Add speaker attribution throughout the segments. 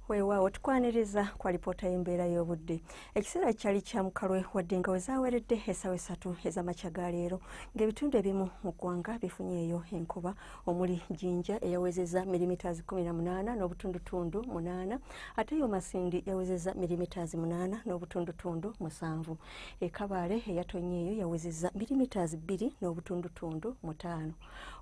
Speaker 1: weewaawo tukwaniriza kwa lipoota y'embeera y'obudde ekiseera kyali kya mukalwe wadde nga wezaaweredde esawa esatu ez'amakya ga leero ng'ebitundu ebimu mu ggwanga bifunyeeyo enkuba omuli jinja eyawezeza milimitaazi 18 n'obutundutundu 8 ate yo masindi yawezeza milimitaazi 8 n'obutundutundu 7 ekabaale eyatonyeeyo yawezeza milimitaazi 2 n'obutundutundu 5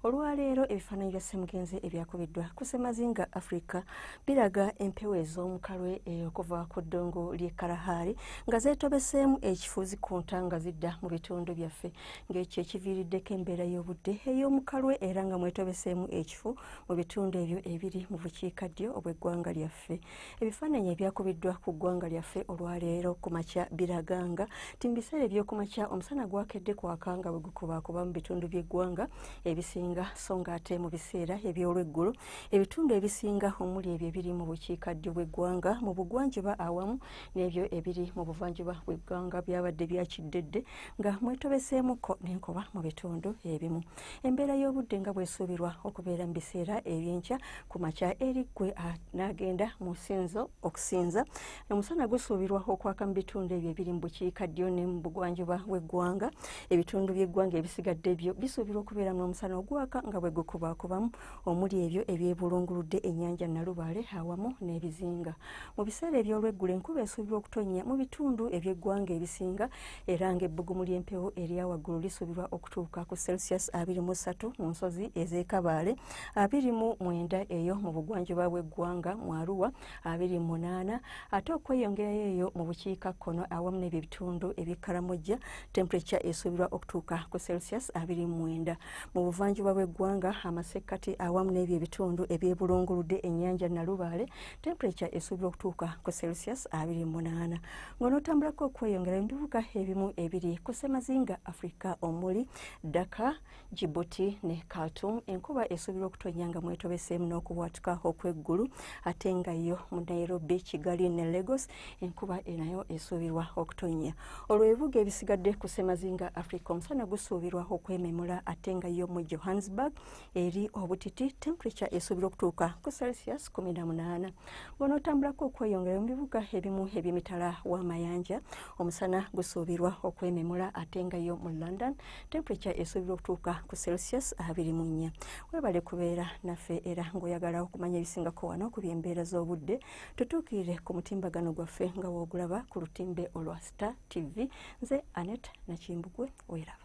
Speaker 1: olwaleero ebifaananyi bya ssemugenzi ebyakubiddwa ku ssemazinga africa biraga empewo ez'omukalwe eh, okuva ku ddungu ly'e kalahari nga zeetobeseemu ekifuuzi ku nta nga zidda mu bitundu byaffe ng'ekyo ekiviiriddeko embeera y'obudde ey'omukalwe era nga mwetobeseemu ekifu mu bitundu ebyo ebiri mu bukiikaddyo obw'eggwanga lyaffe byaffe ebifaananyi ebyakubiddwa ku ggwanga lyaffe olwaleero ku makya biraganga ti mu biseera ebyokumakya omusana gwakedde kwaka nga bwe gukubaakuba mu bitundu by'eggwanga ebisinga so nga ate mu biseera eby'olweggulo ebitundu ebisinga omuli ebyo ebiri mu bukiikaddyo bw'eggwanga mu bugwanjuba awamu n'ebyo ebiri mu buvanjuba bw'eggwanga byabadde byakiddedde nga mwetobeseemukko n'enkuba mu bitundu ebimu embeera y'obudde nga bwesuubirwa okubeera mu biseera ebyenkya ku makya eri gwe n'agenda mu sinzo okusinza omusana gusuubirwa okwaka mu bitundu ebyo ebiri mu bukiika ddyo ne mu bugwanjuba bw'eggwanga ebitundu by'eggwanga ebisigadde byo bisuubirwa okubeera mu omusana ogwaka nga bwe gukubakubamu omuli ebyo ebyebulunguludde ennyanja nalubaale awamu n'ebizinga mu biseera eby'olweggulo enkuba esuubirwa okutonnya mu bitundu eby'eggwanga ebisinga era ng'ebbugumu ly'empewo erya waggulu lisuubirwa okutuuka ku celsius 23 mu nsozi ez'ekabaale 29 eyo mu bugwanjuba bw'eggwanga mu aruwa 28 ate okweyongerayo eyo mu bukiika kkono awamu n'ebyo ebitundu eby'ekkaramojja temperature esuubirwa okutuuka ku celsius 29 mu buvanjuba bw'eggwanga amasekkati awamu n'ebyo ebitundu ebyebulunguludde ennyanja nalubaale temperature esuubirwa okutuuka ku celsius 28 ng'onootambulako okweyongera ebibuga ebimu ebiri ku ssemazinga africa omuli daka jibuti ne khartum enkuba esuubirwa okutonya nga mwetobeseemu n'okubwatuka okw'eggulu ate nga yo mu nairobi kigali ne lagos enkuba enayo esuubirwa okutonya olwo ebibuga ebisigadde ku ssemazinga africa omusana gusuubirwa okwememula ate nga yo mu johannesburg eri obutiti temperature esuubirwa okutuuka ku celsius 18 bwonootambulako okweyongera mu bibuga ebimu eby'emitala w'amayanja omusana gusuubirwa okwememula ate nga yo mu london temperature esuubirwa okutuuka ku celsius 24 webale kubeera naffe era ng'oyagala okumanya ebisingako wano ku byembeera z'obudde tutuukirire ku mutimbagano gwaffe nga woogulaba ku lutimbe olwa star tv nze anet nakimbugwe weraba